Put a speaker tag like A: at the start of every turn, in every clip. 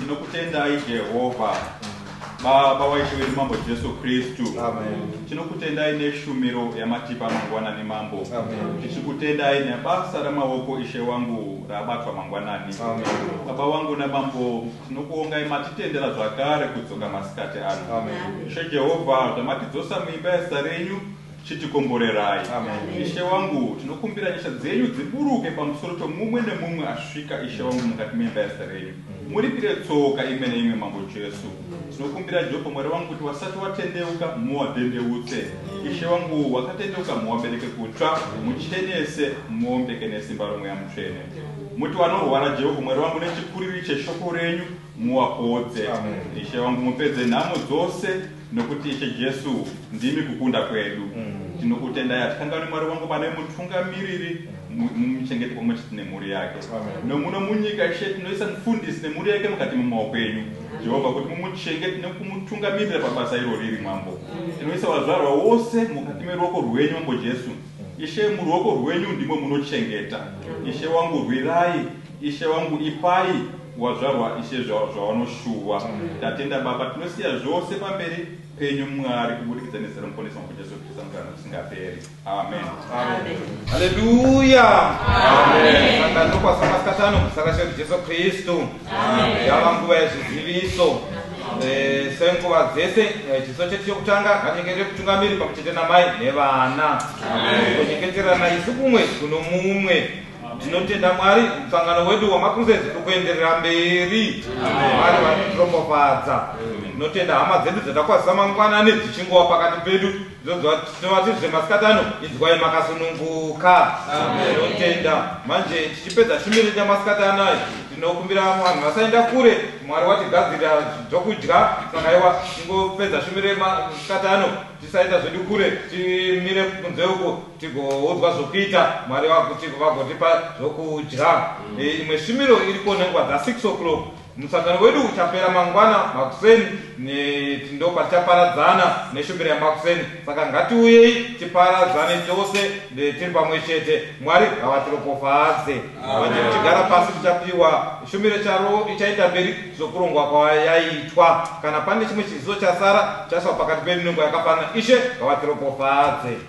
A: tinokutendai jehovha baba waishe wedu mambo jesu kristu
B: tinokutendai
A: neshumiro yamatipa mangwanani mambo tichikutendai
B: nebasa
A: ramaoko ishe wangu rabatwa mangwanani baba
B: wangu
A: namambo tinokuongai matitendera zvakare kudzoka masikati ano ishe jehovha zvamatidzosa muimba yezita renyu chitikomborerai ishe
B: wangu
A: tinokumbira nyasha dzenyu dziburuke pamusoro pemumwe nemumwe asvika ishe wangu mukati meimba yezita renyu muripire tsoka imwe neimwe mambo jesu tinokumbira jehovha mwari wangu kuti wasati watendeuka muwadendeutse ishe wangu wakatendeuka muwabereke kutsva muchenese muombeke nesimba romweya mutsvene muti wanorwara jehovha mwari wangu nechikuriri cheshoko renyu muwapodze ishe wangu mupedze nhamo dzose Nokuti Ishe Jesu ndimi kukunda kwedu. Tinokutendai hatikanganwi Mwari wangu pane mutungamiriri mu- mumuchengeti pamwe chete nemhuri yake. Nomuno munyika Ishe tinoisa mufundisi nemhuri yake mukati memaoko enyu. Jehovha kuti mumuchengete nekumutungamirira pabasa iro riri Mambo. Tinoisa wazvarwa wose mukati meruoko rwenyu Mambo Jesu. Ishe muruoko rwenyu ndimo munochengeta. Ishe wangu rwirai. Ishe wangu ipai. Wazvarwa ishe zvawanoshuwa. Tatenda baba tinosiya zvose pamberi penyu mwari kubudikidza nezita remuponesi wangu jesu kristu amugarana kusingaperi amen
B: haleluya
A: akanokwasanwa
B: satano kusakasha kuti jesu kristu yava
A: nguva
B: yezviziviso eh, senguva dzese eh, chiso chedu chekutanga hanyengerere kutungamiri pamwe chete namai nevana kunyengeterana isu kumwe kuno mumwe Tinotenda Mwari, musangano wedu wamaCrusades uri kuenderera mberi. Mwari vari kutiropafadza. Tinotenda hama dzedu dzatakwazisa mangwanani dzichingova pakati pedu. Tinovati zvemasikati ano, inzwai makasununguka. Tinotenda. Manje tichipedza shumiro yamasikati anaya, tinokumbira vanhu vasaenda kure. Mwari watigadzirira zvokudya, saka iwa tingopedza shumiro yemasikati ano, tisaenda zvedu kure, timire kunze uko. tigoudzwa zvokuita mwari vakutiko vagotipa zvokudya mm. e, imwe e, shumiro iriko nenguva dza 6 o'clock musangano wedu uchapera mangwana makuseni ndopa tichaparadzana neshumiro yamakuseni saka ngatiuyei tiparadzane tose tiri pamwe chete mwari havatiropofadze tigara pasi tichapiwa shumiro charo ichaita mberi zvokurongwa kwayaitwa kana pane chimwe chiziso chasara chaiswa pakati pedu nenguva yakafanana ishe havatiropofadze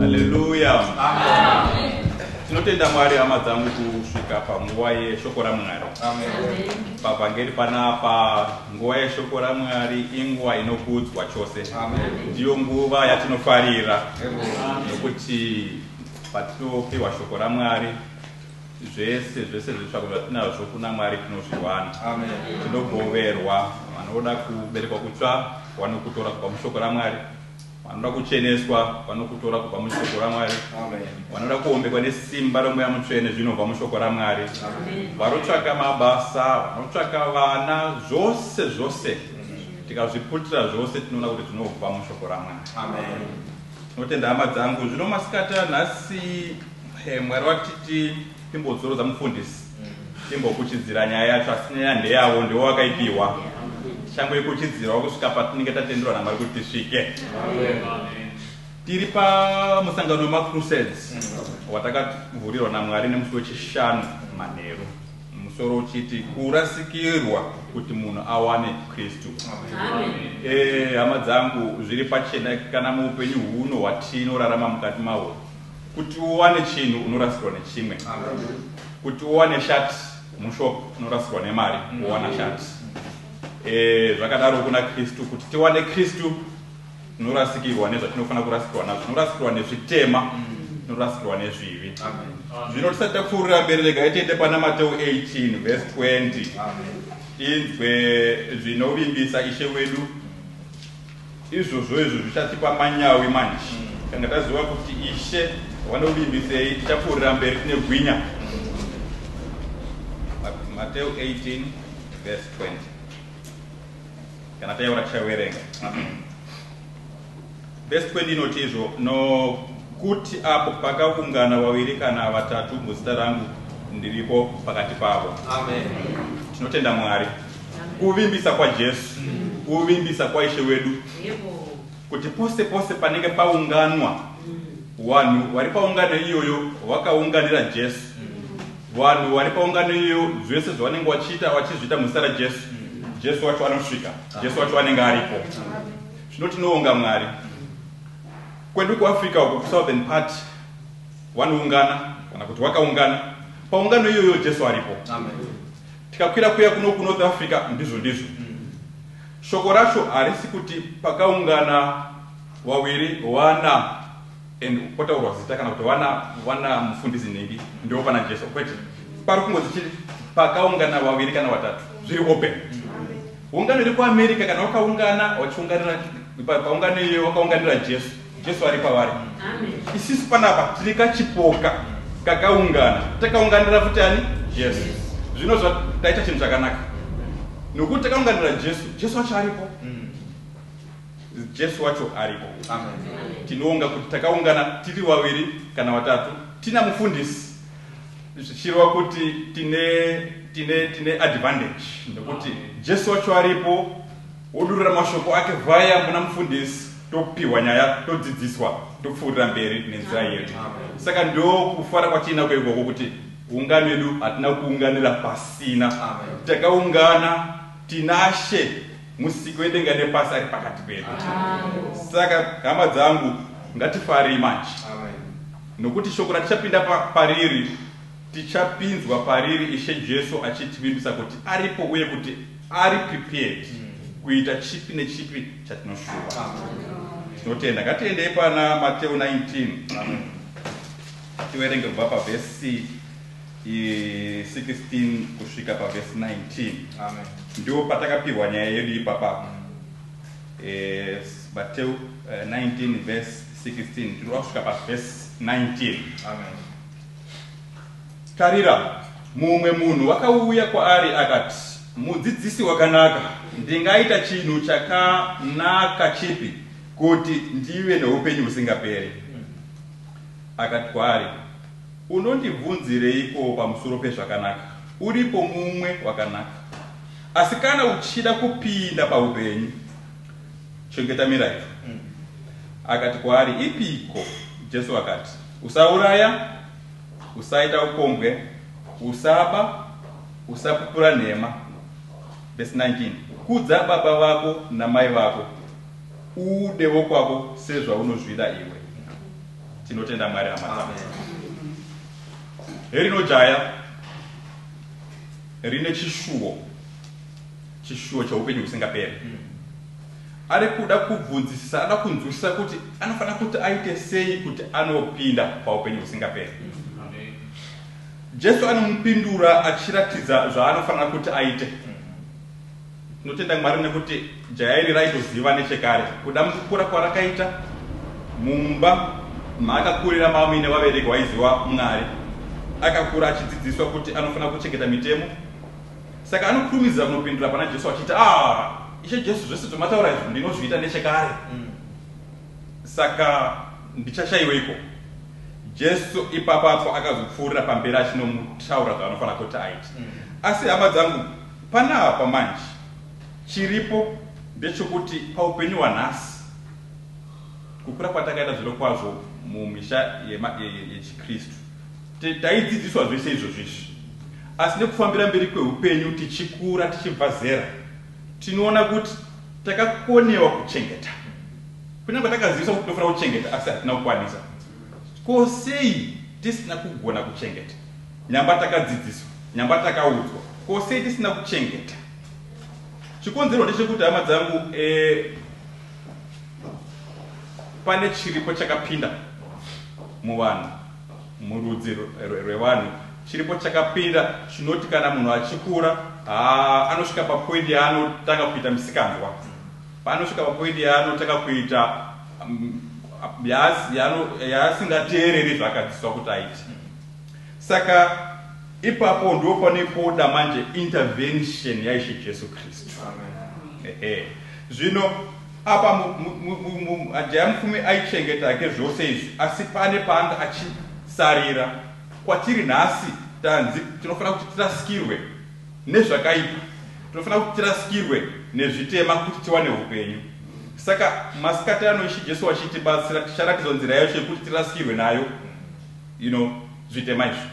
A: haleluya tinotenda mwari hama dzangu kusvika panguva yeshoko ramwari
B: pavhangeri
A: panapa nguva yeshoko ramwari inguva inokudzwa chose ndiyo
B: nguva
A: yatinofarira nokuti patinopiwa shoko ramwari zvese zvese zvitsvako zvatinazvo kuna mwari tinozviwana
B: tinogoverwa
A: vanoda kuberekwa kutsva vanokutora kubva mushoko ramwari vanoda kucheneswa vanokutora kubva mushoko ramwari vanoda kuombekwa nesimba romweya mutsvene zvinobva mushoko ramwari vanotsvaka mabasa vanotsvaka vana zvose zvose tikazviputira zvose tinoona kuti zvinobva mushoko ramwari tinotenda hama dzangu zvino masikati anhasi Hey, mwari vatiti timbodzorodza mufundisi timbokuchidzira nyaya yacho asi nyaya ndeyavo ndiwo wakaipiwa tichangoikuchidzirawo kusvika patinenge tatenderwa namwari kuti tisvike tiri pamusangano wemacrusades watakavhurirwa namwari nemusi wechishanu manheru musoro uchiti kurasikirwa kuti munhu awane kristu eh, hama dzangu zviri pachena kana muupenyu huno hwatinorarama mukati mawo Kuti uwane chinhu unorasirwa nechimwe. Kuti uwane shat mushop unorasirwa nemari kuwana shat. Eh, zvakadaro kuna Kristu. Kuti tiwane Kristu tinorasikirwa nezvatinofanira kurasikirwa nazvo. Tinorasikirwa nezvitema, tinorasikirwa nezvivi. Zvino tisati tapfuurira mberi, regai tiende pana Mateo 18 verse 20. Inzwe zvinovimbisa Ishe wedu. Izvozvo izvo zvichatipa manyawi manji. Tanga taziva kuti Ishe vanovimbisei, tichapfuurira mberi tine gwinya. Mateo 18 verse 20 kana taiona tichaverenga verse 20 inoti izvo nokuti apo pakavungana vaviri kana vatatu muzita rangu ndiripo pakati pavo tinotenda mwari Kuvimbisa kwaJesu, kuvimbisa kwaIshe wedu kuti pose pose panenge paunganwa vanhu vari paungano iyoyo vakaunganira Jesu, vanhu vari paungano iyoyo zvese zvavanenge vachiita vachizviita muzita raJesu, Jesu wacho anosvika, Jesu wacho anenge aripo. Zvino tinoonga Mwari. Kwedu kuAfrica uko kuSouthern part vanoungana kana kuti vakaungana paungano iyoyo Jesu aripo. Amen. Tikakwira kuya kuno kuNorth Africa ndizvo ndizvo. Shoko racho harisi kuti pakaungana wawiri wana and potaurwa zita kana kuti wana wana mufundisi nhingi ndiwo pana Jesu kwete. Pari kungozi chiri pakaungana wawiri kana watatu zviri open. Ungano iri kuAmerica kana wakaungana wachiunganira paungano iyoyo wakaunganira Jesu. Jesu ari pavari. Isisi panapa tiri kachipoka kakaungana. Takaunganira futi ani? Jesu. Zvino zvataita chinhu chakanaka. Nokuti takaunganira Jesu, Jesu wacho aripo. Mm. Jesu wacho aripo. Amen. Tinoonga kuti takaungana tiri vaviri kana vatatu. Tina mufundisi. Zvichirwa kuti tine tine tine advantage nokuti Jesu wacho aripo Odurura mashoko ake vaya muna mufundisi topihwa nyaya todzidziswa topfuurira mberi nenzira yedu. Saka ndokufara kwatiinako ikoko kuti ungano yedu hatina kuunganira pasina. Takaungana tinashe musiki wedenga nepasi ari pakati pedu. Saka hama dzangu ngatifarei manje nokuti shoko ratichapinda pariri Tichapinzwa pariri Ishe Jesu achitivimbisa kuti aripo uye kuti ari prepared kuita chipi nechipi chatinoshuva. Tinotenda. Ngatiendei pana Mateo 19 tiverenge kubva pavhesi i- 16 kusvika pavhesi 19 Amen. ndiwo patakapihwa nyaya yedu ipapa Eh, mateu eh, 19 vhesi 16 tinoda kusvika pavhesi 19 Amen. Tarira, mumwe munhu wakauya kwaari akati, Mudzidzisi wakanaka, ndingaita chinhu chakanaka chipi kuti ndive noupenyu husingaperi? Akati kwaari, Unondibvunzireiko pamusoro pezvakanaka? Uripo mumwe wakanaka. Asi kana uchida kupinda paupenyu, chengeta mirayiro. Akati kwaari, Ipiko? Jesu akati, Usauraya, usaita upombwe, usaba, usapupura nhema. Verse 19. Kudza baba vako namai vako, uude wokwako sezvaunozvida iwe. Tinotenda Mwari hama Herino jaya rine chishuwo, chishuwo cheupenyu husingaperi. Mm. Ari kuda kubvunzisisa, anoda kunzwisisa kuti anofanira kuti aite sei kuti anopinda paupenyu husingaperi. Jesu anomupindura achiratidza zvaanofanira kuti aite. Tinotenda Mwari nekuti jaya iri raitoziva nechekare kuda mukukura kwarakaita mumba maakakurira maamine vabereki waiziva Mwari. Akakura achidzidziswa kuti anofanira kuchengeta mitemo. Saka anokurumidza kunopindura pana Jesu achiti, Aah, Ishe Jesu, zvese zvamataura izvi ndinozviita nechekare. Saka ndichashaiweiko? Jesu ipapapo akazopfuurira pamberi achinomutaura zvaanofanira kuti aite. Asi hama dzangu, panapa manje, chiripo ndechokuti paupenyu hwanhasi, kukura kwatakaita zvirokwazvo mumisha yema- ye- ye- yechiKristu, Taidzidziswa zvese izvozvo izvi, asi nekufambira mberi kwehupenyu tichikura tichibva zera, tinoona kuti takakonewa kuchengeta. Kunyange takaziviswa kuti tinofanira kuchengeta, asi hatina kukwanisa. Ko sei tisina kugona kuchengeta? Nyamba takadzidziswa, nyamba takaudzwa, ko sei tisina kuchengeta? Chikonzero ndechekuti, hama dzangu, eh, pane chiripo chakapinda muvanhu. Murudzi rwevanhu chiripo chakapinda chinoti kana munhu achikura haa anosvika papoindi yaanotanga kuita misikanzwa, paanosvika papoindi yaanotanga kuita yaasingateereri zvaakadziswa kuti aite. Saka ipapo ndo pane poda manje intervention yaIshe Jesu Kristu. Ehe. Zvino Apa Jaya Mupfumi aichengeta hake zvose izvi asi pane paanga achisarira. Kwatiri nhasi tanzi tinofanira kuti tirasikirwe nezvakaipa, tinofanira kuti tirasikirwe nezvitema kuti tiwane hupenyu. Saka masikati ano Ishe Jesu vachitibatsira ticharatidzwa nzira yacho yekuti tirasikirwe nayo you know, zvitema izvi.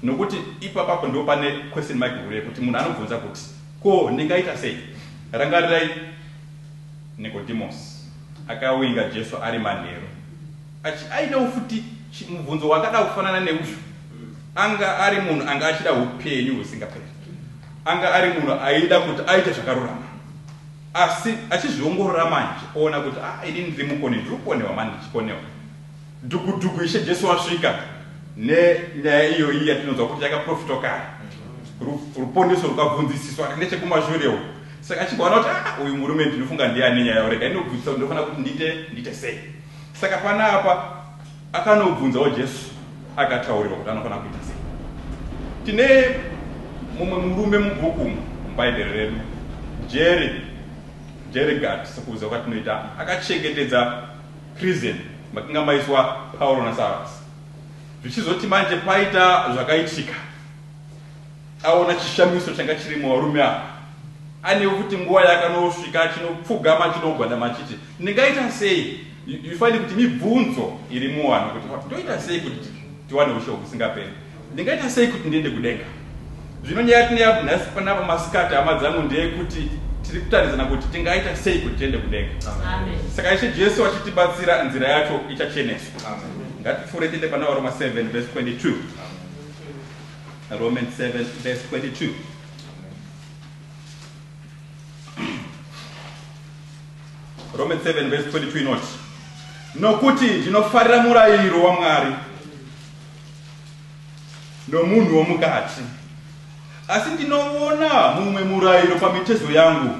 A: Nokuti ipapapo ndipo pane question mark huru yekuti munhu anobvunza kuti ko ndingaita sei? Rangarirai Nikodhimosi akawinga Jesu ari manheru achi, aida ufuti chi, mubvunzo wakada kufanana neuyu. Anga ari munhu anga achida upenyu husingaperi. Anga ari munhu aida kuti aite zvakarurama. Asi achizviongorora manje, oona kuti, ah, ini ndiri mukoni, ndiri kukonewa mani, ndichikonewa. Dhuku-dhuku Ishe Jesu wasvika nenyaya iyoyi yatinonzwa kuti yakaprofitwa kare. Ruponeso rukabvunzisiswa ari nechekumashure uko. Saka achibvaona kuti ah, uyu murume ndinofunga ndiye ane nyaya urega inobvunzisa kuti ndofanira kuti ndiite ndiite sei. Saka panapa akanobvunzawo Jesu akataurirwa kuti anofanira kuita sei. Tine mumwe murume mubhuku muBhaibheri redu Jeri Jeri Gati sekuziva kwatinoita akachengetedza Prison makanga maiswa Pauro na Sarus. Zvichizoti manje paita zvakaitika. Aona chishamiso changa chiri muvarume ava. Ane kuti nguva yakanosvika achinopfugama achinogwadama achiti ndingaita sei? Ifanire kuti mibvunzo iri muwanhu kuti ndoita sei kuti tiwane ushe husingaperi. Ndingaita sei kuti ndiende kudenga? Zvino nyaya yatineyapo nhasi panapa masikati, hama dzangu, ndeyekuti tiri kutaridzana kuti tingaita sei kuti tiende kudenga. Saka Ishe Jesu achitibatsira, nzira yacho ichacheneswa. Ngatipfuure tiende pana Varoma 7 vese 22. Romans 7 vese 22. Romans 7 vese 22 inoti, Nokuti ndinofarira murayiro waMwari. nomunhu womukati. Asi ndinoona mumwe murayiro pamitezo yangu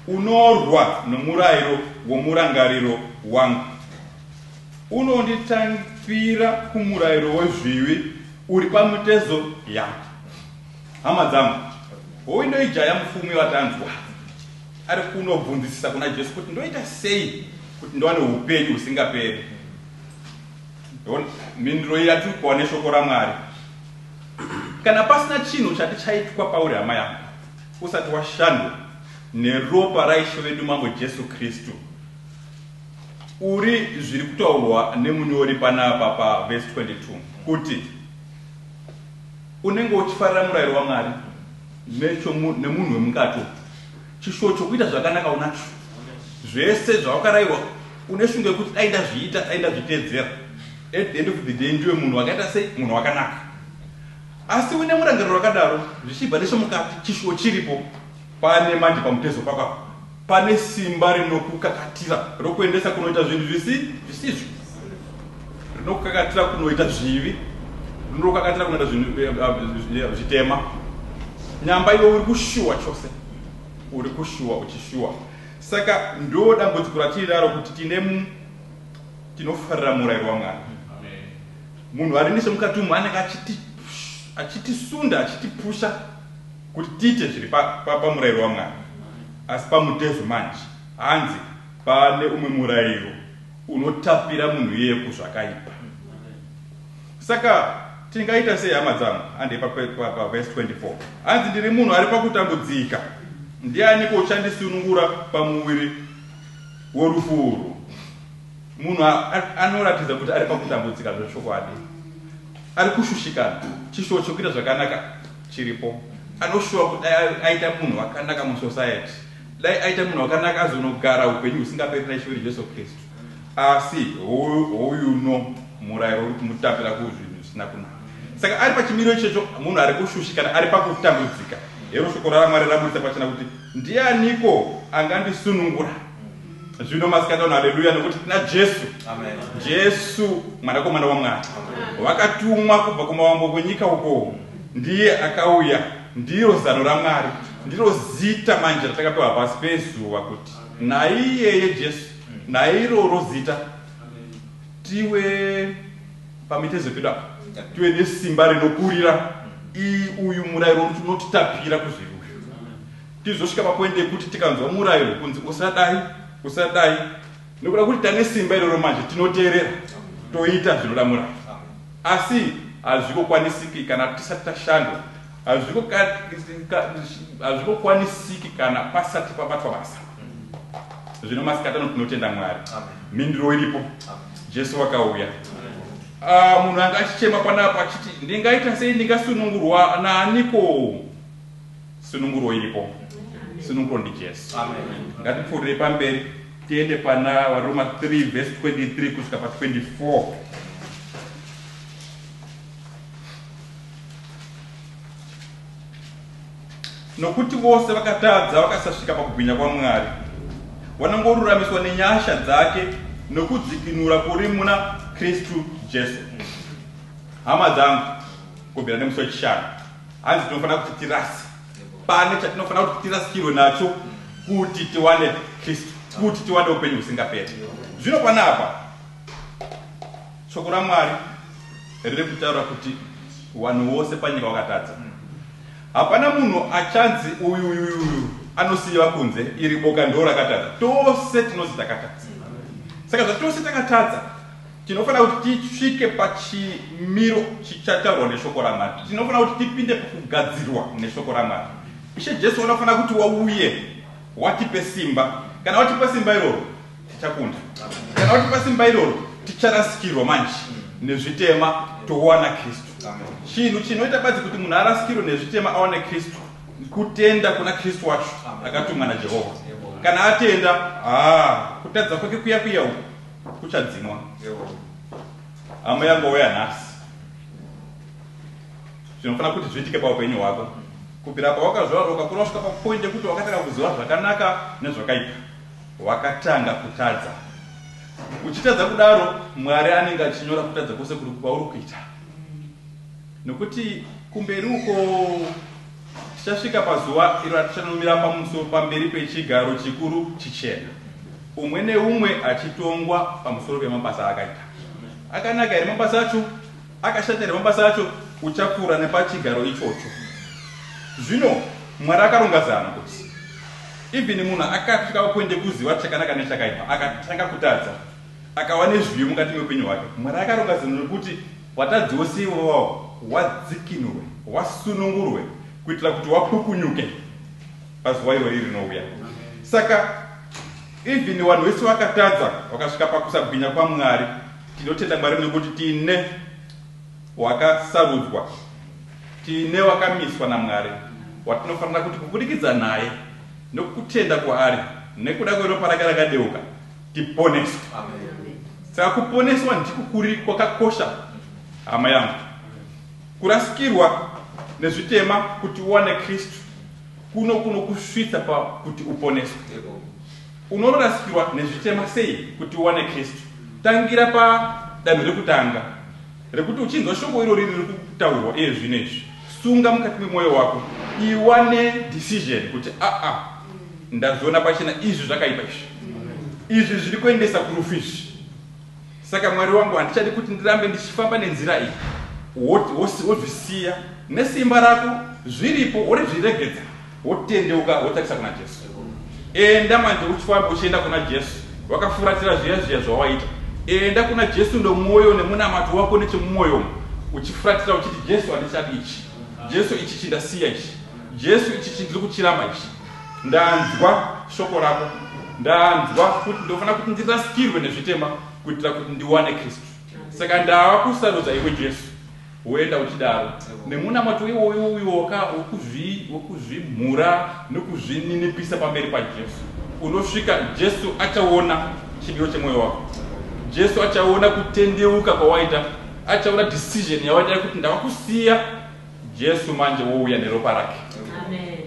A: unorwa nomurayiro womurangariro wangu, unonditangira kumurayiro wezvivi uri pamitezo yangu. Hama dzangu, hoyu ndoijaya mufumi watanzwa ari kunobvunzisisa kuna Jesu kuti ndoita sei kuti ndiwane upenyu husingaperi. mhinduro iyi yatiri kuwa neshoko ramwari kana pasina chinhu chati chaitwa pauri hama yangu usati washandwa neropa raishe vedu mambo jesu kristu uri zviri kutaurwa nemunyori panapa pavhesi 22 kuti unenge uchifarira murayiro wamwari nemunhu wemukati Chishuwo chokuita zvakanaka unacho. Zvese zvawakarayirwa une shungu yekuti dai ndazviita, dai ndazviteedzera. At the end of the day ndiwe munhu wakaita sei? Munhu wakanaka. Asi uine murangariro wakadaro, zvichibva nechemukati chishuwo chiripo. Pane manje pamutezo pako apa. Pane simba rinokukakatira rokuendesa kunoita zvinhu zvisizvo. rinokakatira kunoita zvivi rinokakatira kunoita zvitema nyamba iwe uri kushuwa chose uri kushuwa uchishuwa saka ndo dambudziko ratiinaro kuti tine tinofarira murayiro wamwari munhu ari nese mukati umu anenge achitisunda achitipusha kuti tiite zviri pamurayiro wamwari asi pamutezo manje hanzi pane umwe murayiro Unotapira munhu iyeye kuzvakaipa. Saka tingaita sei hama dzangu? Handei pavhesi 24. Hanzi ndiri munhu ari pakutambudzika. Ndianiko uchandisunungura pamuviri worufu urwu? Munhu anoratidza kuti ari pakutambudzika zvechokwadi. Ari kushushikana. Chishuwo chekuita zvakanaka chiripo. Anoshuwa kuti aita munhu wakanaka musociety. Dai aita munhu wakanaka azonogara upenyu husingaperi na Ishe wedu Jesu Kristu. Asi houyuno murayiro uri kumutambira kuzvinhu zvisina kunaka. Saka ari pachimiro ichocho munhu ari kushushikana ari pakutambudzika. Hero shoko raMwari raburitsa pachena kuti ndianiko angandisunungura? Zvino masikati ano haleluya nokuti tina Jesu. Amen.
B: Jesu
A: mwanakomana waMwari. Wakatumwa kubva kumavambo kwenyika uko. Ndiye akauya ndiro zano raMwari. Ndiro zita manje ratakapiwa pasi pezuva kuti naiyeye Jesu, nairoro zita tive pamitezo pedu apa, tive nesimba rinokurira. Iyi uyu murairo uti unotitapira kuzviri uyu, tizosvika papoindi yekuti tikanzwa murairo kunzi usadai, usadai, nekuda kuti tane simba iroro manje, tinoteerera toita zvinoda murairo. Asi hazvikokwanisiki kana tisati tashandwa Hazvingo kwanisiki kana pasati pabatwa basa zvino masikati ano tinotenda mwari mhinduro iripo jesu vakauya ah, munhu anga achichema panapo achiti ndingaita sei ndingasunungurwa naaniko sununguro iripo sununguro ndi jesu ngatipfuurire pamberi tiende pana varoma 3 vhesi 23 kusvika pa 24 Nokuti vose vakatadza vakasasvika pakubwinya kwaMwari, vanongoruramiswa nenyasha dzake nokudzikinura kuri muna Kristu Jesu. Hama dzangu, kubvira nemusi wechishanu, hanzi tinofanira kuti tirasi pane chatinofanira kuti tirasikirwe nacho kuti tiwane Kristu, kuti tiwane upenyu husingaperi. Zvino panapa Shoko raMwari riri kutaura kuti wanhu wose panyika wakatadza. Hapana munhu achanzi uyu uyu uyu uyu anosiiva kunze, iri boka ndoo rakatadza. Tose tinonzi takatadza. Saka zvatose takatadza, tinofanira kuti tisvike pachimiro chichataurwa neshoko raMwari. Tinofanira kuti tipinde pakugadzirwa neshoko raMwari. Ishe Jesu vanofanira kuti wauye watipe simba. Kana watipa simba iroro, tichakunda kana kuti pasimba iroro ticharasikirwa manje nezvitema towana kristu chinhu chinoita badzi kuti munhu arasikirwe nezvitema awane kristu kutenda kuna kristu wacho akatumwa najehovha kana atenda haa kutadza kwake kuya kuya uku kuchadzimwa hama yangouya nhasi zvinofanira kuti zviitike paupenyu hwako kubvira pawakazvarwa ukakura kusvika papoindi yekuti wakatanga kuziva zvakanaka nezvakaipa Wakatanga kutadza. Uchitadza kudaro, Mwari anenge achinyora kutadza kwose kwauri kuita. Nokuti kumberi uko tichasvika pazuva iro ratichanomira pamusoro pamberi pechigaro chikuru chichena, umwe neumwe achitongwa pamusoro pemabasa aakaita. Akanaka here mabasa acho? Akashata here mabasa acho? Uchapfuura nepachigaro ichocho. Zvino, Mwari akaronga zano kuti even munhu akasvika papoindi yekuziva chakanaka nechakaipa, akatanga kutadza, akava nezviyo mukati meupenyu hwake. Mwari akaronga zano rekuti vatadzi vose ivovawo vadzikinurwe, vasunungurwe, kuitira kuti wapukunyuke pazuva irori rinouya. Saka, even vanhu vese vakatadza, vakasvika pakusagwinya kwaMwari. Tinotenda Mwari nekuti tine wakasarudzwa, tine wakamiswa naMwari watinofanira kuti kubudikidza naye nokutenda kwaari nekuda kweropa rake rakadeuka tiponeswe. Saka kuponeswa ndiko kuri kwakakosha hama yangu. Kurasikirwa nezvitema kuti uwane Kristu kuno kunokusvitsa pakuti uponeswe. Unorasikirwa nezvitema sei kuti uwane Kristu? Tangira pa danho rekutanga rekuti uchinzwa shoko irori riri kutaurwa iye zvino izvi, sunga mukati memoyo wako, iwa ne decision kuti aa ndazviona pachena izvi zvakaipa izvi. Izvi zviri kuendesa kurufu izvi. Saka Mwari wangu, handichadi kuti ndirambe ndichifamba nenzira iyi. Wozvisiya nesimba rako zviripo, worizviregedza, wotendeuka, wotarisa kuna Jesu. Enda manje uchifamba uchienda kuna Jesu, wakafuratira zviya zviya zvawaita. Enda kuna Jesu ndomwoyo nemunamato wako nechemumwoyo uchifuratira uchiti, Jesu, handichadi ichi. Jesu, ichi chindasiya ichi. Jesu, ichi chindiri kuchiramba ichi. Ndanzwa shoko rako. Ndanzwa kuti ndofana kuti ndirasikirwe nezvitema kuitira kuti ndiwane Kristu. Saka ndava kusarudza iwe Jesu. Woenda uchidaro. Nemunamato iwoyo uyo wokuzvimhura nokuzvininipisa pamberi paJesu. Unosvika Jesu achaona chidiyo chemwoyo wako. Jesu achaona kutendeuka kwawaita. Achaona decision yawaita yekuti ndava kusiya Jesu manje wouya neropa rake. Amen.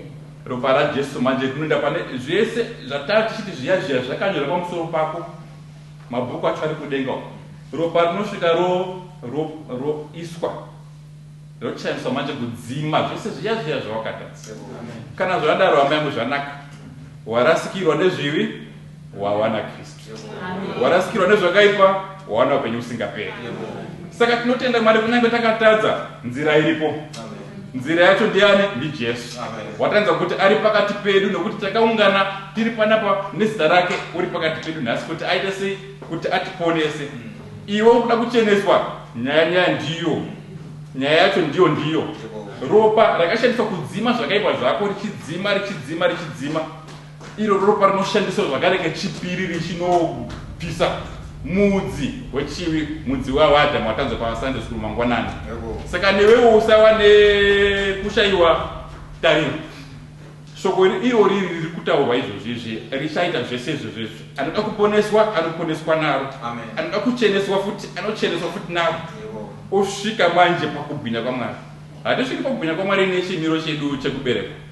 A: Ropa raJesu manje rinoenda pane zvese zvatari tichiti zviya zviya zvakanyora pamusoro pako mabhuku acho ari kudenga uko. Ropa rinosvika ro ro roiswa rochaniswa manje kudzima zvese zviya zviya zvawakatadza. Kana zvadaro hama yangu zvanaka. Warasikirwa nezvivi wawana Kristu. warasikirwa nezvakaipa wawana upenyu usingaperi saka tinotenda mwari kunyange takatadza nzira iripo nzira yacho ndiani ndijesu watanza kuti ari pakati pedu nokuti takaungana tiri panapa nezita rake uri pakati pedu nhasi kuti aite sei kuti atiponese iwe ukuda kucheneswa nyaya nyaya ndiyo nyaya yacho ndiyo ndiyo ropa rakashandiswa kudzima zvakaipa zvako richidzima richidzima richidzima Iro ropa rinoshandiswa zvakare kechipiri richinopisa mudzi wechivi, mudzi waAdam watanzwa paSunday School mangwanani. Saka newewo usawa nekushayiwa tariro. Shoko iro riri riri kutaurwa izvozvi izvi richaita zvese izvozvi izvi. Anoda kuponeswa, anoponeswa naro. Anoda kucheneswa futi, anocheneswa futi naro. Osvika manje pakubwinya kwaMwari. Hatisviki pakubwinya kwaMwari nechimiro chedu chekuberekwa.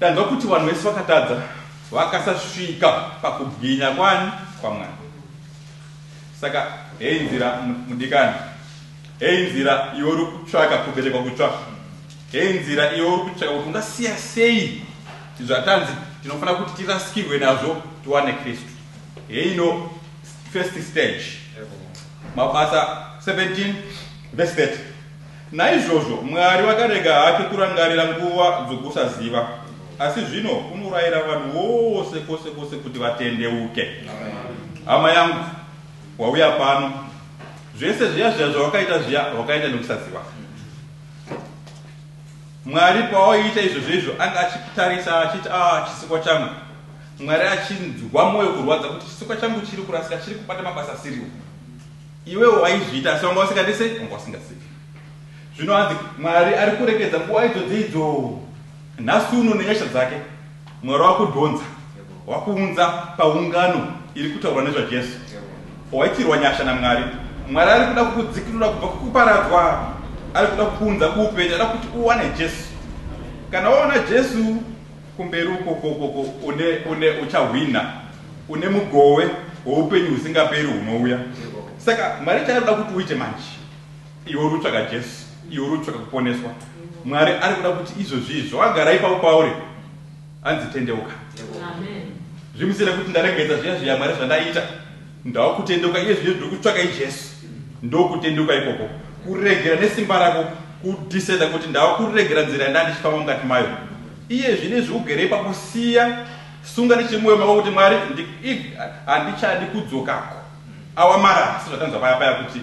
A: Tanzwa kuti vanhu vese vakatadza vakasasvika pakubwinya kwani kwamwari saka hei nzira mudikani hei nzira iwe uri kutsvaka kuberekwa kutsva hei nzira iwe uri kutsvaka kuti ungasiya sei zvatanzi tinofanira kuti tirasikirwe nazvo tiwane kristu heino first stage mabasa 17 Verse 30. Naizvozvo Mwari vakarega hake kurangarira nguva dzokusaziva, asi zvino unorayira vanhu vose kwose kwose kuti vatendeuke. Hama yangu, wauya pano, zvese zviya zviya zvawakaita zviya wakaita nekusaziva. Mwari pawaiita izvo zveizvo anga achitarisa achiti a ah, chisikwa changu. Mwari achinzwa mwoyo kurwadza kuti chisikwa changu chiri kurasika, chiri kubata mabasa asiriwo. Iwewo waizviita asi wanga usingadi sei? Wanga usingazivi. Zvino hanzi Mwari ari kurekedza nguva idzo dzeidzo nhasi uno nenyasha dzake. Mwari wakudhonza, wakuunza paungano iri kutaurwa nezvaJesu. Waitirwa nyasha naMwari. Mwari ari kuda kukudzikinura kubva kukuparadzwa. Ari kuda kukuunza kuupenyu. Ari kuda kuti uwane Jesu. Kana waona Jesu, Kumberi uko ko ko ko une une uchahwina une mugowe woupenyu husingaperi hunouya. Saka Mwari chaanoda kuti uite manje iwe uri kutsvaka Jesu, iwe uri kutsvaka kuponeswa. Mwari ari kuda kuti izvozvi izvo wagara ipapo pauri anzi tendeuka. Amen. Zvimusiyire kuti ndaregedza zviya zviya Mwari zvandaita. Ndakutendeuka iye zvino ndokutsvakai Jesu. Ndokutendeuka ikoko. Kuregera nesimba rako kudecida kuti ndakuregera nzira yandaa ndichifamba mukati mayo. Iye zvino izvi ugere ipapo siya sunga nechimumoyo mako kuti Mwari handichadi kudzokako. Awa marara seZvatanzwa paya paya kuti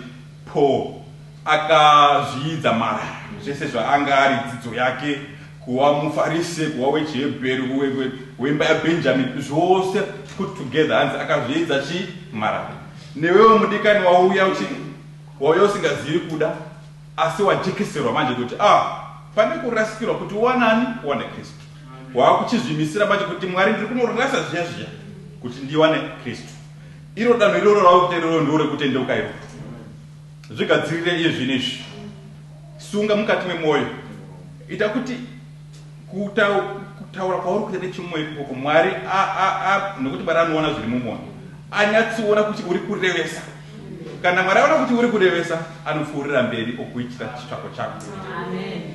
A: poo. Akazviidza marara zvese zvaanga ari, dzidzo yake, kuva muFarise, kuva wechiHebheru, we, we, wemba yaBenjamini, zvose put together, hanzi akazviidza chii? Marara. Newewo mudikani wauya uchiti wauya usingazivi kuda, asi wajekeserwa manje kuti ah, pane kurasikirwa kuti wanani wane Kristu. Waakuchizvimisira manje kuti Mwari ndiri kunorasa zviya zviya kuti ndiwane Kristu. Iro danho iroro rauri kutererero ndiro rekutendeuka iroro. Zvigadzirire iye zvino izvi. Sunga mukati memwoyo. Ita kuti kutaura kwauri kuita nechimwoyo ikoko Mwari nokuti Mwari anoona zviri mumwoyo. Anyatsiona kuti uri kurevesa. Kana Mwari aona kuti uri kurevesa, anopfuurira mberi okuitira chitsvako chako.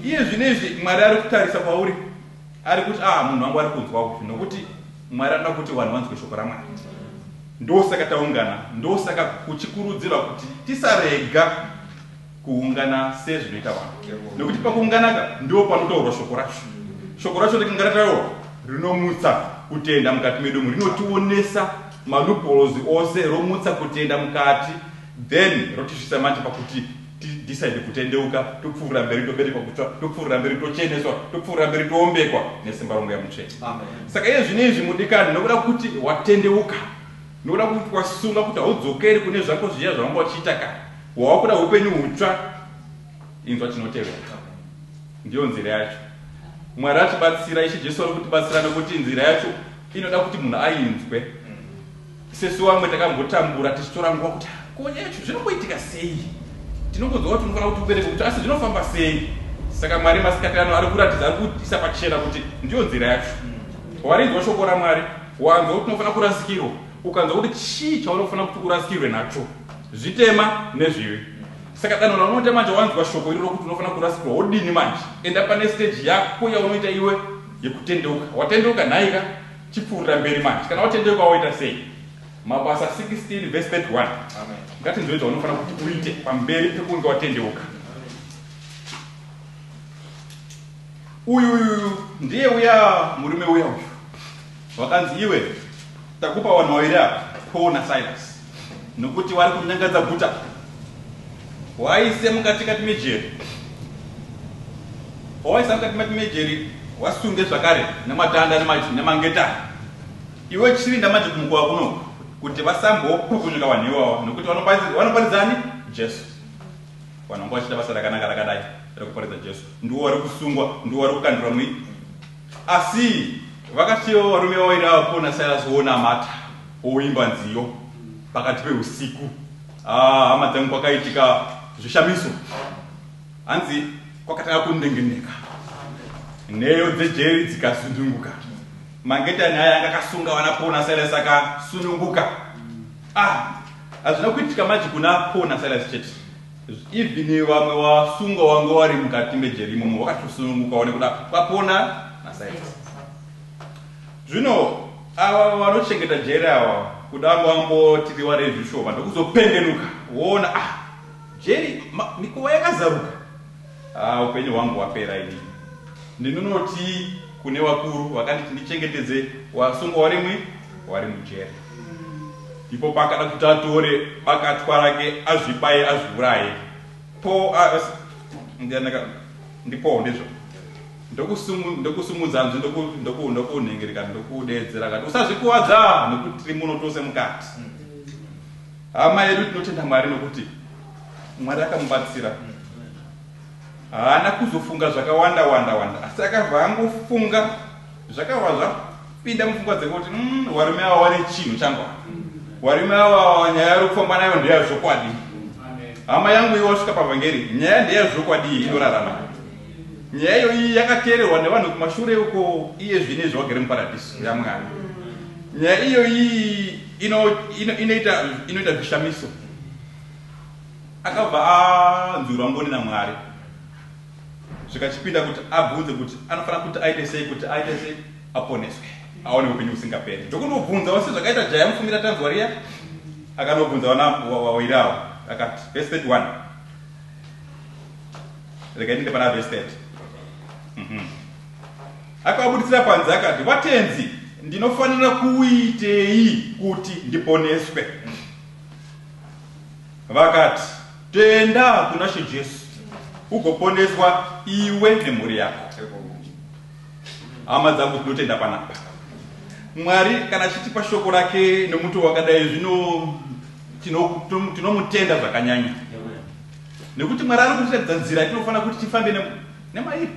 A: Iye zvino izvi Mwari ari kutarisa kwauri. Ari kuti ah munhu wangu ari kunzwa uyu nokuti Mwari anoda kuti vanhu vanzwe shoko raMwari. Ndosaka taungana, ndosaka kuchikurudzirwa kuti tisarega kuungana sezvinoita vanhu. Nokuti pakuungana ka ndipo panotaurwa shoko racho. Shoko racho rikinga rataurwa rinomutsa kutenda mukati medu umu, rinotionesa malupolozi ose, romutsa kutenda mukati, then rotisvitsa manje pakuti Ti decide kutendeuka topfuurira mberi toberekwa kutsva topfuurira mberi tocheneswa topfuurira mberi toombekwa nesimba romweya mutsvene. Saka iye zvino izvi mudikani ndinokuda kuti watendeuka ndinokuda kuti wasunga kuti haudzokeri kune zvako zviya zvawanga uchiita kare wawakuda hupenyu hutsva inzwa chinotevera ndiyo nzira yacho mwari atibatsira ishe jesu ari kutibatsira nekuti nzira yacho inoda kuti munhu ainzwe Sesu vamwe takambotambura tichitora nguva kuti ko nyaya yacho zvinomboitika sei? Tinongonzwa kuti unofanira kuti ubereke kuti asi zvinofamba sei? Saka Mwari masikati ano ari kuratidza ari kuisa pachena kuti ndiyo nzira yacho. Warinzwa shoko raMwari, wanzwa kuti unofanira kurasikirwa, ukanzwa kuti chii chaunofanira kuti urasikirwe nacho, zvitema nezvivi. Saka danho raunoita manje wanzwa shoko iri rokuti unofanira kurasikirwa, wodini manje? Enda pane stage yako yaunoita iwe yekutendeuka. Watendeuka nhaika? Chipfuurira mberi manje. Kana watendeuka woita sei? Mabasa 16 verse 31. Ngatinzwei zvaunofanira kuti uite pamberi pekunge watendeuka. Uyu uyu ndiye uya murume uya uyu. Wakanzi iwe takupa wanhu waviri apa, Paul naSilas. nokuti wari kunyangadza guta waise mukatikati mejeri wawaisa mukatikati mejeri wasunge zvakare nematanda nemangetani iwe chirinda manje kumukowa kuno kuti vasambopukunyuka vanhu iwawa nokuti vanoparidzani jesu vanhu vanga vachita basa rakanaka rakadai rekuparidza jesu ndiwo wari kusungwa ndiwo wari kukandurwa mui Asi vakasiyawo varume vaviri ava Paul naSilas vonamata voimba nziyo pakati peusiku. Ah, hama dzangu, kwakaitika zvishamiso. Hanzi kwakatanga kundengeneka, nheyo dzejeri dzikasununguka, mangetani aya anga akasunga vana Paul naSilas akasununguka. Ah, hazvina kuitika manje kuna Paul naSilas chete. Even vamwe wasungwa wanga wari mukati mejeri imomo wakatosunungukawo nekuda kwapona nasaiti. Zvino ava vanochengeta jeri ava kuda ngoambotiriwa rezvishoma ndokuzopengenuka woona ah jeri mikuva yakazaruka. Haa upenyu hwangu hwapera ini. Ndinonotii kune wakuru vakanditi ndichengetedze wasungwa warimwi wari mujere. Ndipo paakada kuti atore bakatwa rake azvibaye azviuraye. Po as ndianaka ndipo ndizvo. Ndokusumu ndokusumudza nzwi ndoku ndoku ndokunhengereka ndokudeedzera kati usazvikuvadza nekuti tiri muno tose mukati. Hama yedu tinotenda Mwari nokuti Mwari akamubatsira. Haana kuzofunga zvakawanda wanda wanda asi akabva angofunga zvakabva zvapinda mupfungwa dzake kuti mm, varume ava wane chinhu changwa varume ava nyaya yari kufamba nayo ndeya zvokwadi hama yangu iyo wasvika pavhangeri nyaya ndeya zvokwadi iyi inorarama nyaya iyo iyi yakateererwa nevanhu kumashure uko iye zvine zvawagere muparadhiso yamwana nyaya iyo iyi inoita zvishamiso akabva anzwirwa ngoni namwari zvikachipinda kuti abvunze kuti anofanira kuti aite sei kuti aite sei aponeswe aone upenyu usingaperi ndokunobvunza wasi zvakaita jaya mufungira tanzwa riya akanobvunza wanawairawo akati vese 31 rega ndinde pana vese 30 mhm. akabuditsira panze akati vatenzi ndinofanira kuitei kuti ndiponeswe Vakati, Tenda kuna She Jesu ugoponeswa iwe nemhuri yako. Hama dzangu tinotenda panapa. Mwari kana achitipa shoko rake nemuto wakadai zvino tinomutenda zvakanyanya. Nekuti Mwari ari kutiratidza nzira tinofanira kuti tifambe nemairi.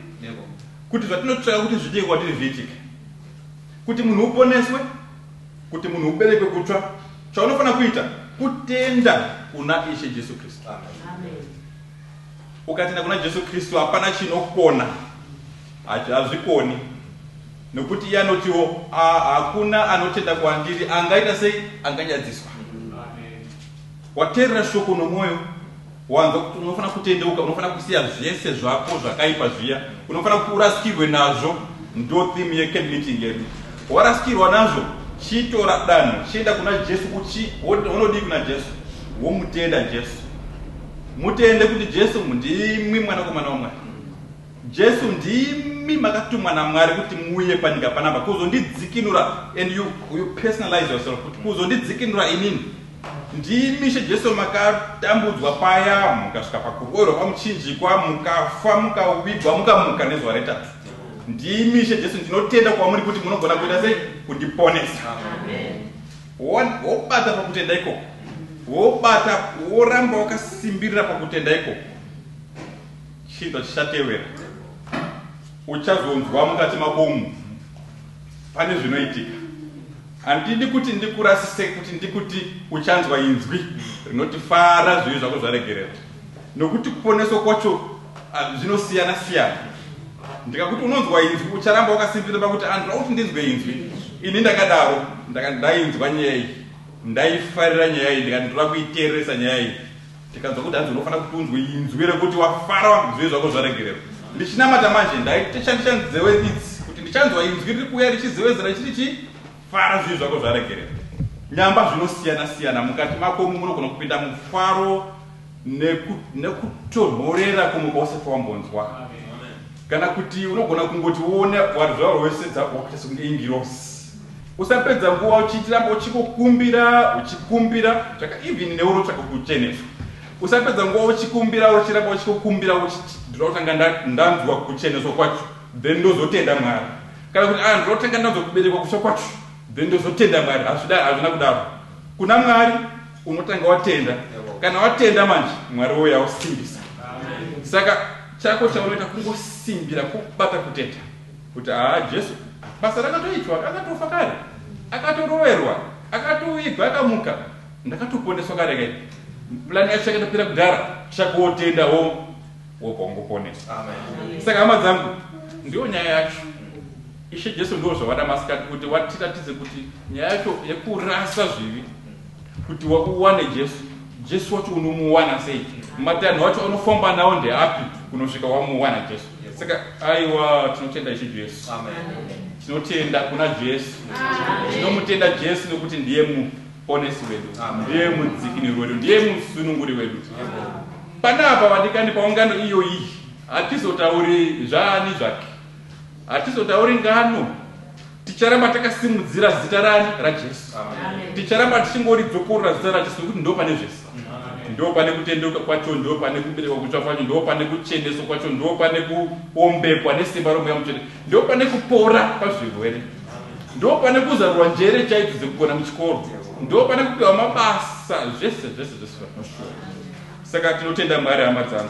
A: Kuti zvatinotsvaka kuti zviitike kwatiri zviitike. Kuti munhu uponeswe Kuti munhu uberekwe kutsva, chaunofanira kuita kutenda kuna Ishe Jesu Kristu. Ukatenda kuna Jesu Kristu, hapana chinokona, hazvikoni nokuti iye anotiwo ah, hakuna anotenda kwandiri angaita sei anganyadziswa waterera shoko nomwoyo Wanzwa kuti unofanira kutendeuka, unofanira kusiya zvese zvako zvakaipa zviya, unofanira kuti urasikirwe nazvo. Ndo theme yecamp meeting yedu. Warasikirwa nazvo, chitora danho, chienda kuna Jesu. Uchi unodii kuna Jesu? Womutenda Jesu, mutende kuti Jesu ndimwi mwanakomana waMwari. Jesu ndimi makatumwa naMwari kuti muuye panyika panapa kuzondidzikinura and you, you personalize yourself kuti kuzondidzikinura inini ndimi she Jesu makatambudzwa paya mukasvika pakuroerwa kwamuchinjikwa mukafa mukavigwa mukamuka nezuva retatu ndimi she Jesu ndinotenda kwamuri kuti munogona kuita sei kundiponesa wobata pakutenda ikoko wobata woramba wakasimbirira pakutenda ikoko Chiito chichatevera. Uchazonzwa mukati mako umu pane zvinoitika. Handidi kuti ndikurasise kuti ndikuti uchanzwa inzwi rinoti fara zvivi zvako zvaregererwa. Nokuti kuponeswa kwacho ah, zvinosiyana siyana. Ndikakuti unonzwa inzwi ucharamba wakasimbirira pakuti andira kuti ndinzwe inzwi. Ini ndakadaro ndaka- ndainzwa nyaya iyi. Ndaifarira nyaya iyi ndikati ndoda kuiteereresa nyaya iyi. Tikanzwa kuti hanzi unofanira kuti unzwe inzwi rekuti wafara wanzwe zvako zvaregererwa. Ndichinamata manje ndaitoshandisa nzewe idzi kuti ndichanzwa inzwi riri kuuya richizewezera chiri chi fara zvivi zvako zvaregererwa. Nyamba zvinosiyana siyana mukati mako umu munogona kupinda mufaro nekutonhorera neku kumwe kwausafa wambonzwa. Kana kuti unogona kungoti uone warizvauro wese dzakuwakuita sekunge ingirosi. Usapedza nguva uchitiramba uchikokumbira uchikumbira tsvaka even newe unotsvaka kucheneswa. Usapedza nguva uchikumbira uchiramba uchikokumbira uchiti ndinoda kutanga ndanzwa kucheneswa kwacho then ndozotenda Mwari. Kana kuti ah ndinoda kutanga ndanzwa kuberekwa kutsva kwacho then ndozotenda Mwari. Hazvida hazvina kudaro. Kuna Mwari unotanga watenda. Kana watenda manje Mwari woya usimbisa. Saka chako chaunoita kungosimbira kubata kutenda. Kuti haa Jesu basa rakatoitwa akatofa kare akatoroverwa akatovigwa akamuka ndakatoponeswa kare kai plan yacho yakatopera kudhara chakotenda ho wobva ungoponeswa saka hama dzangu ndiyo nyaya yacho ishe Jesu ndiwo zvavada masikati kuti watiratidze kuti nyaya yacho yekurasa zvivi kuti uwane jesu jesu wacho unomuwana sei matanho acho anofamba nawo ndeapi kunosvika wamuwana jesu saka aiwa tinotenda ishe jesu tinotenda kuna jesu tinomutenda jesu nekuti ndiye muponesi wedu ndiye mudzikiniri wedu ndiye musununguri wedu pana apa vadikani paungano iyo iyi hatizotauri zvaani zvake hatizotauri ngano Ticharamba takasimudzira zita rani? RaJesu. Ticharamba tichingoridzokorora zita raJesu nekuti ndo pane zvese. Ndo pane kutendeuka kwacho, ndo pane kuberekwa kutsva kwacho, ndo pane kucheneswa kwacho, ndo pane kuombekwa nesimba romweya mutsvene, ndo pane kupora pazvirwere, ndo pane kuzarurwa njere chaidzo dzekugona muchikoro, ndo pane kupiwa mabasa, zvese zvese zvese. Saka tinotenda Mwari hama dzangu.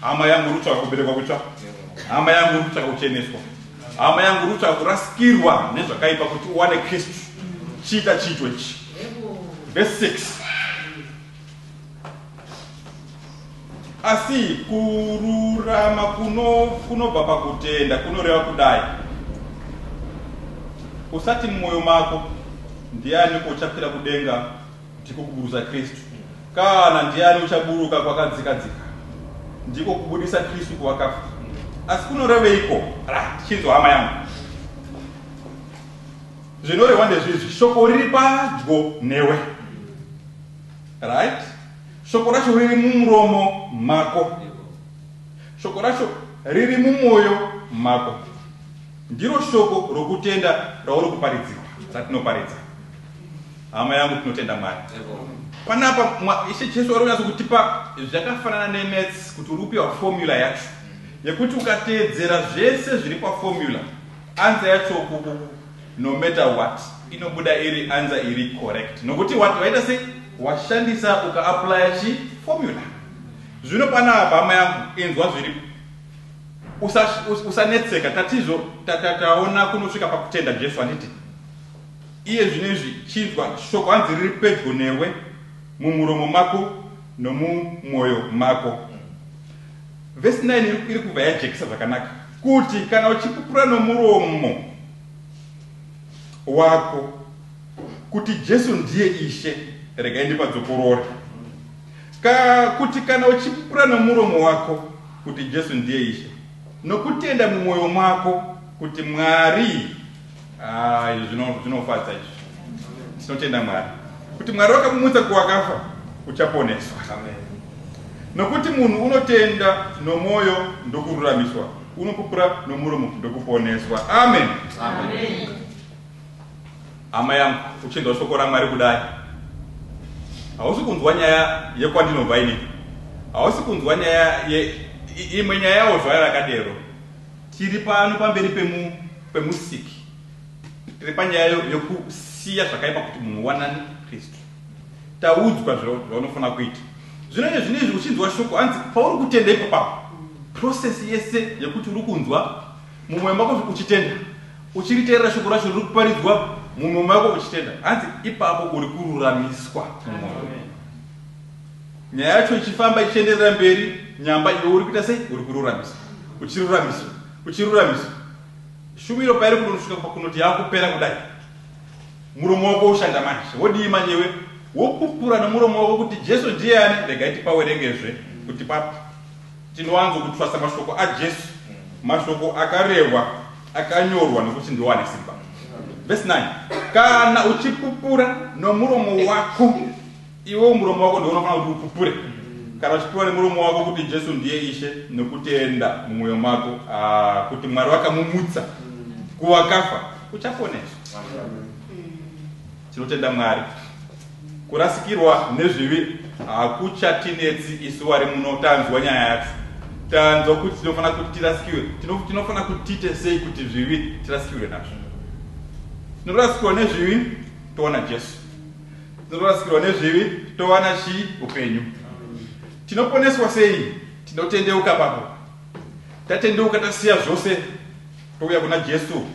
A: hama yangu uri kutsvaka kuberekwa kutsva hama yangu uri kutsvaka kucheneswa hama yangu uri kutsvaka kurasikirwa nezvakaipa kuti uwane kristu chiita chiitwe chi verse 6 asi kururama kunobva pakutenda kunoreva kudai usati mumwoyo mako ndiani uchapira kudenga Ndiko kuburusa Kristu. Kana ndiani uchaburuka kwakadzika dzika? Ndiko kubudisa Kristu kuvakafa. Asi kunoreveiko? Ra, tichinzwa hama yangu. Zvinorehwa ndezvizvi, shoko riri padyo newe. Right? Shoko racho riri mumuromo mako. Shoko racho riri mumwoyo mako. Ndiro shoko rokutenda rauri kuparidzirwa, ratinoparidza. Hama yangu tinotenda Mwari. Panapa Ishe Jesu vari kunyatso kutipa zvakafanana nemaths kuti uri kupiwa formula yacho yekuti ukateedzera zvese zviri paformula anza yacho kukuku no matter what inobuda iri anza iri correct nokuti wati waita sei washandisa ukaaplya chi formula zvino panapa hama yangu inzwa zviripo usanetseka tatizvo tataona kunosvika pakutenda jesu handiti Iye zvino izvi, chinzwa, shoko hanzi riri pedyo newe, mumuromo mako nomumwoyo mako. Vhesi 9 iri, iri kubva yajekesa zvakanaka kuti kana uchipupura nomuromo wako kuti Jesu ndiye Ishe, regai ndipadzokorore, ka, kuti kana uchipupura nomuromo wako kuti Jesu ndiye Ishe, nokutenda mumwoyo mako kuti Mwari Ah, izvi zvino- zvinofadza izvi tinotenda mwari kuti mwari wakamumutsa kuwakafa uchaponeswa nokuti munhu unotenda nomwoyo ndokururamiswa unopupura nomuromo ndokuponeswa amen hama yangu uchinzwa shoko ramwari kudai hausi kunzwa nyaya yekwandinobva ini hausi kunzwa nyaya ye i- imwe nyaya yawo zvaya rakadero Tiri pano pamberi pemu pemusiki tiri panyaya yokusiya zvakaipa kuti munhu wanani kristu taudzwa zvaunofanira kuita zvino iye zvino izvi uchinzwa shoko hanzi pauri kutenda ipapapo prosesi yese yekuti uri kunzwa mumwoyo mako uchitenda uchiriteerera shoko racho riri kuparidzwa mumwoyo mako uchitenda hanzi ipapo uri kururamiswa mumwoyo Nyaya yacho ichifamba ichienderera mberi Nyamba iwe uri kuita sei? Uri kururamisa Uchiruramisa Uchiruramisa Shumiro pairi kunonosvika pakunoti yakupera kudai Muromo wako woshanda manje Wodii manje iwe? Wopupura nomuromo wako kuti Jesu ndiye ani? Regai tipawerengezve kuti pa Tinowanzo kutwasa mashoko aJesu Mashoko akarehwa akanyorwa nokuti ndiwo ane simba Verse 9 Kana uchipupura nomuromo wako Iwe muromo wako ndiwo unofanira kuti upupure. Kana uchipiwa nemuromo wako kuti Jesu ndiye Ishe nokutenda mumwoyo mako ah, kuti Mwari vakamumutsa kuvakafa, uchaponeswa. Tinotenda Mwari. Kurasikirwa nezvivi hakuchatinetsi isu wari muno tanzwa nyaya yacho. Tanzwa kuti tinofanira kuti tirasikirwe. Tino- Tinofanira kuti tiite sei kuti zvivi tirasikirwe nazvo. Tinorasikirwa nezvivi toona Jesu. Tinorasikirwa nezvivi towana chi upenyu. Tinoponeswa sei? Tinotendeuka papo. Tatendeuka tasiya zvose touya kuna Jesu.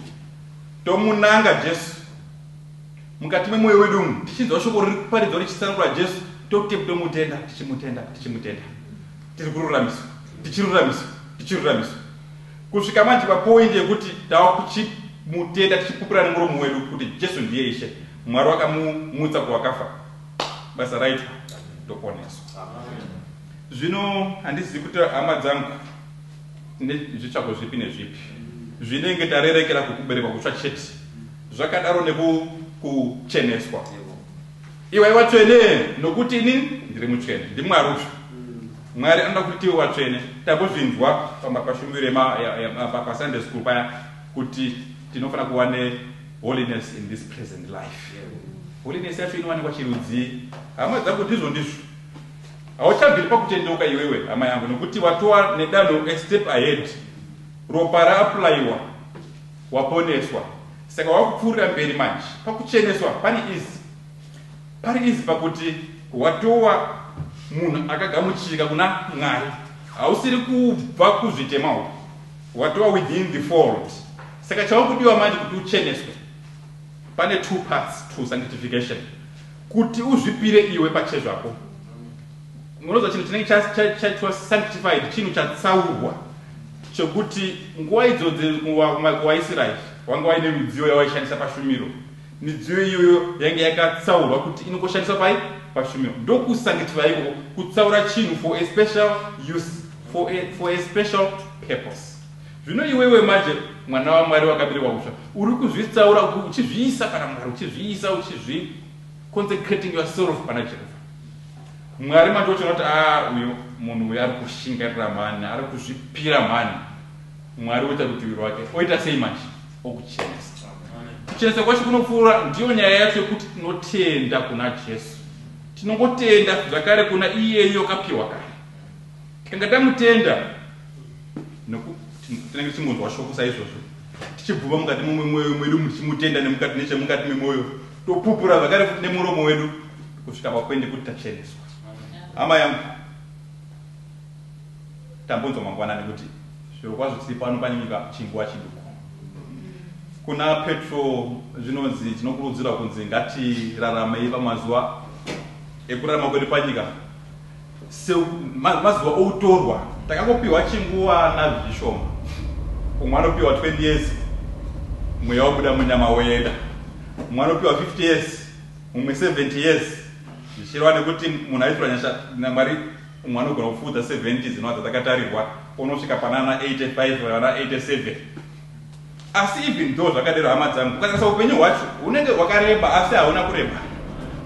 A: Tomunanga Jesu. Mukati memoyo wedu umu tichinzwa shoko riri kuparidzwa richitsanangura Jesu tote tomutenda tichimutenda tichimutenda. Tiri kururamiswa tichiruramiswa tichiruramiswa. Kusvika manje pa point yekuti tava kuchi mutenda tichipupura nemuromo wedu kuti Jesu ndiye Ishe, Mwari wakamu mutsa kuvakafa, basa raitwa, toponeswa. Zvino handizivi kuti hama dzangu tine zvitsvako zvipi nezvipi zvinenge tarerekera kukuberekwa kutsva chete zvakadaro neku kucheneswa. Iwai watsvene nokuti ini ndiri mutsvene. NdiMwari utsva. Mwari anoda kuti tiwe watsvene. Tambozvinzwa pashumiro pasunday school paya kuti tinofanira kuva neholiness in this present life. Holiness yacho inowanikwa chirudzii? Hama dzangu ndizvo ndizvo. Hauchabviri pakutendeuka iwewe hama yangu nokuti watova nedanho a step ahead. Ropa raaplayiwa. Waponeswa saka wakupfuurira mberi manje pakucheneswa pari easy pari easy pakuti watowa munhu akagamuchirika kuna Mwari hausiri kubva kuzvitema uku watowa within the fold saka chaukudiwa manje kuti ucheneswe pane two parts to sanctification kuti uzvipire iwe pachezvako Munonzwa chinhu chinenge chaitwa sanctified, chinhu chatsaurwa, chekuti nguva idzodzi mumako waIsraeri wanga waine midziyo yawaishandisa pashumiro. Midziyo iyoyo yange yakatsaurwa kuti inongoshandiswa pai pashumiro. Ndokusanctify ikoko, kutsaura chinhu for a special use, for a, for a special purpose. Zvino iwewe manje mwana waMwari wakaberekwa kutsva, uri kuzvitsaura uchizviisa pana Mwari, uchizviisa uchizvi consecrating yourself pana Jehovha. Mwari mandotoona kuti aah uyu munhu uyu arikushingairira mhani arikuzvipira mhani Mwari oita rutivi rwake oita sei manje okuchenesa kuchenesa kwacho kunopfuura ndiyo nyaya yacho yekuti tinotenda kuna Jesu tinongotenda zvakare kuna iyeyo akapiwa kare tanga tamutenda tinenge tichingonzwa shoko saizvozvo tichibvuma mukati memwoyo mwedu muchimutenda nemukati nechemukati memwoyo Topupura zvakare futi nemuromo wedu kusvika pakuende kuti tacheneswa. Hama yangu, tambonzwa mangwanani kuti zvirokwazvo tiri pano panyika chinguva chiduku. Kuna Petro zvinonzi tinokurudzirwa kunzi ngatiramei pamazuva ekurarama kwedu panyika Se, ma, mazuva outorwa takangopiwa chinguva nazvo chishoma. Umwe anopiwa 20 years mweya wabuda munyama woenda. Umwe anopiwa 50 years, umwe 70 years. Zvichireva nekuti munhu aitirwa nyasha naMwari umwe anogona kupfuudza 70 dzino dzatakatarihwa onosvika panana 85 kana 87. Asi even though zvakadero hama dzangu ukatarisa upenyu hwacho hunenge hwakareba asi hauna kureba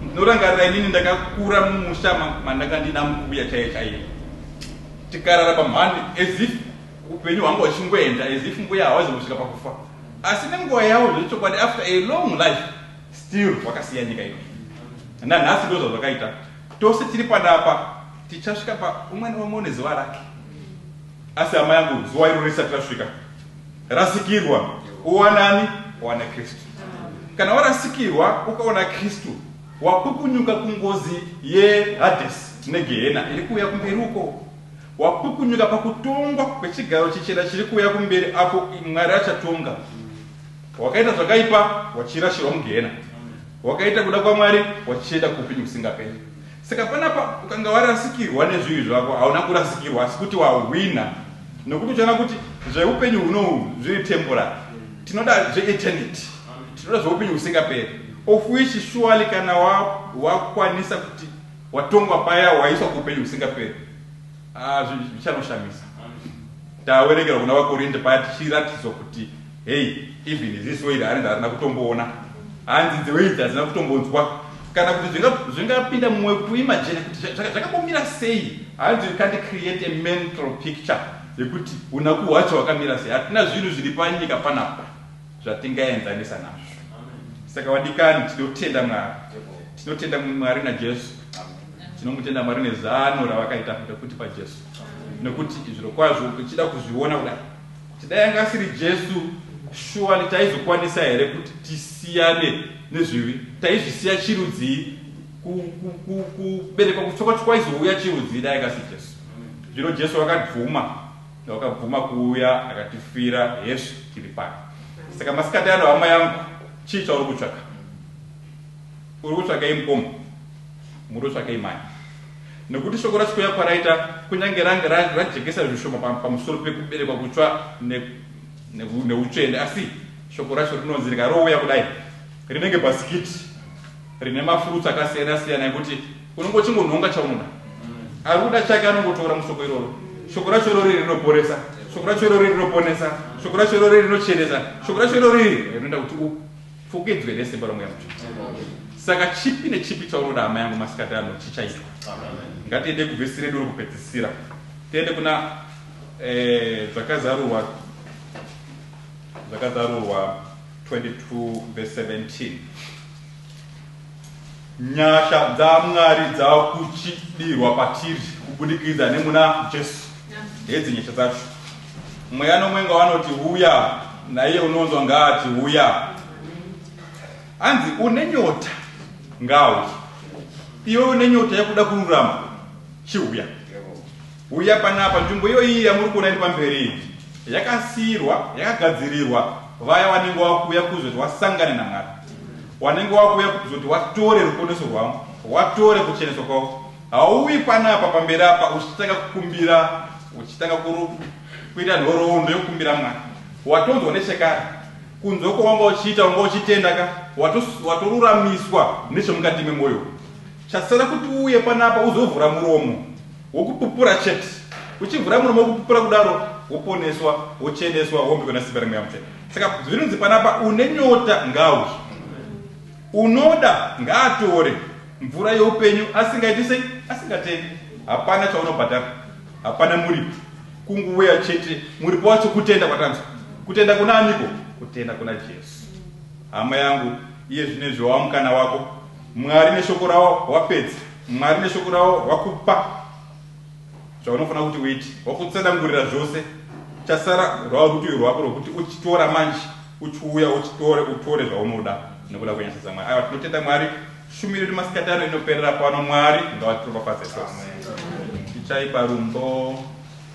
A: ndinorangarira inini ndakakura mumusha mandanga ndina mukuya chaiye chaiye tikarara pamhani as if upenyu hwangu hwachingoenda as if mbuya hawazi kusvika pakufa asi nenguva yawo zvechokwadi after a long life still wakasiya nyika ino nanhasi ndo zvazvakaita tose tiri panapa tichasvika pa umwe neumwe une zuva rake Asi hama yangu, zuva iro risati rasvika, rasikirwa, uwana ani? Uwana Kristu. Kana warasikirwa ukawana Kristu, wapukunyuka kungozi yeHadesi neGehena iri kuuya kumberi uko, wapukunyuka pakutongwa kwechigaro chichena chiri kuuya kumberi, apo Mwari achatonga. Wakaita zvakaipa, wachirashirwa muGehena. Wakaita kuda kwaMwari, wachienda kuupenyu husingaperi. Saka panapa ukanga warasikirwa nezvivi zvako hauna kurasikirwa asi kuti wahwina nokuti uchaona kuti zveupenyu hunohu zviri temporary tinoda zveeternity tinoda zveupenyu husingaperi of which surely kana wakwanisa kuti watongwa paya waiswa kuupenyu husingaperi Ah, zvichanoshamisa. Tawerekera kuna vaKorinde paya tichiratidzwa kuti hei, even ziso iri hanzi harina kutomboona, hanzi dzewe idzi hadzina kutombonzwa, kana kuti zvingapinda mumwe kuimagine kuti zvakambomira sei, hanzi you can't create a mental picture yekuti unaku hwacho hwakamira sei. Hatina zvinhu zviri panyika panapa. zvatingaenzanisa nazvo. Saka vadikani, tinotenda Mwari, tinotenda Mwari naJesu, tinomutenda Mwari nezano ravakaita rekuti paJesu, nekuti zviro kwazvo tichida kuzviona kudai, kuti dai anga asiri Jesu, shuwa taizokwanisa here kuti tisiyane nezvivi? Taizvisiya chirudzii? Kuberekwa kutsoka kwaizouya chirudzii dai anga asiri Jesu? Zvino Jesu vakabvuma Wakabvuma kuuya akatifira hezvo tiri pano. Saka masikati ano hama yangu chii chauri kutsvaka? Uri kutsvakei mukoma? Muri kutsvakei mani? Nekuti shoko racho kuya kwaraita kunyange range rajekesa zvishoma pamusoro pekuberekwa kutsva neutsvene asi shoko racho rinonzi rikarouya kudai rinenge bhasikiti rine mafruits akasiyana siyana ekuti unongochingonhonga chaunoda ari kuda chake anongotora musoko iroro shoko racho irori rinoporesa shoko racho irori rinoponesa shoko racho irori rinochenesa shoko racho irori rinoita kuti upfukidzwe nesimba romweya mutsvene saka chipi nechipi chaunoda hama yangu masikati ano chichaitwa ngatiende kuvhesi redu rokupedzisira tiende kuna eh, zvakazarurwa zvakazarurwa 22 vese 17 Nyasha dzaMwari dzakuchidirwa patiri kubudikidza nemuna Jesu. Hedzi nyasha dzacho. Mweya nomwenga wanoti huya, naiye unonzwa ngaati huya. Hanzi une nyota ngauye. Iwe une nyota yekuda kururama chihuya. Huya panapa, nzvimbo iyoyi yamuri kuona iri pamberi iyi yakasiirwa, yakagadzirirwa vaya vanenge vava kuuya kuzoti wasangane naMwari, wanenge wava kuuya kuzoti watore ruponeso rwavo, watore kucheneswa kwavo. Hauuyi panapa pamberi apa uchitanga kukumbira, uchitanga kuita nhoroondo yokukumbira Mwari. Watonzwa nechekare, kunzwa kwawanga uchiita, wanga uchitenda ka, watoruramiswa nechemukati memwoyo. Chasara kuti uuye panapa uzovhura muromo. Wokupupura chete. Uchivhura muromo wokupupura kudaro, woponeswa, wocheneswa, wombiwa nesimba reMweya Mutsvene. Saka zvinonzi panapa, une nyota ngaauye. Unoda ngaatore mvura youpenyu asingaiti sei? Asingatengi. Hapana chaunobhadhara. Hapana muripo. Kunguuya chete. Muripo wacho kutenda kwatanzwa. Kutenda kuna aniko? Kutenda kuna Jesu. Hama yangu, iye zvino izvi wava mukana wako. Mwari neshoko rawo wapedza. Mwari neshoko ravo vakupa zvaunofanira kuti uite, vakutsanangurira zvose. Chasara rwava rutivi rwako rwekuti uchitora manje, uchiuya uchitore, utore zvaunoda nekuda kwenyasha dzaMwari. Aiwa, tinotenda Mwari. Shumiro yedu masikati ano inoperera pano. Mwari ngavatiropafadze tose. Tichaipa rumbo.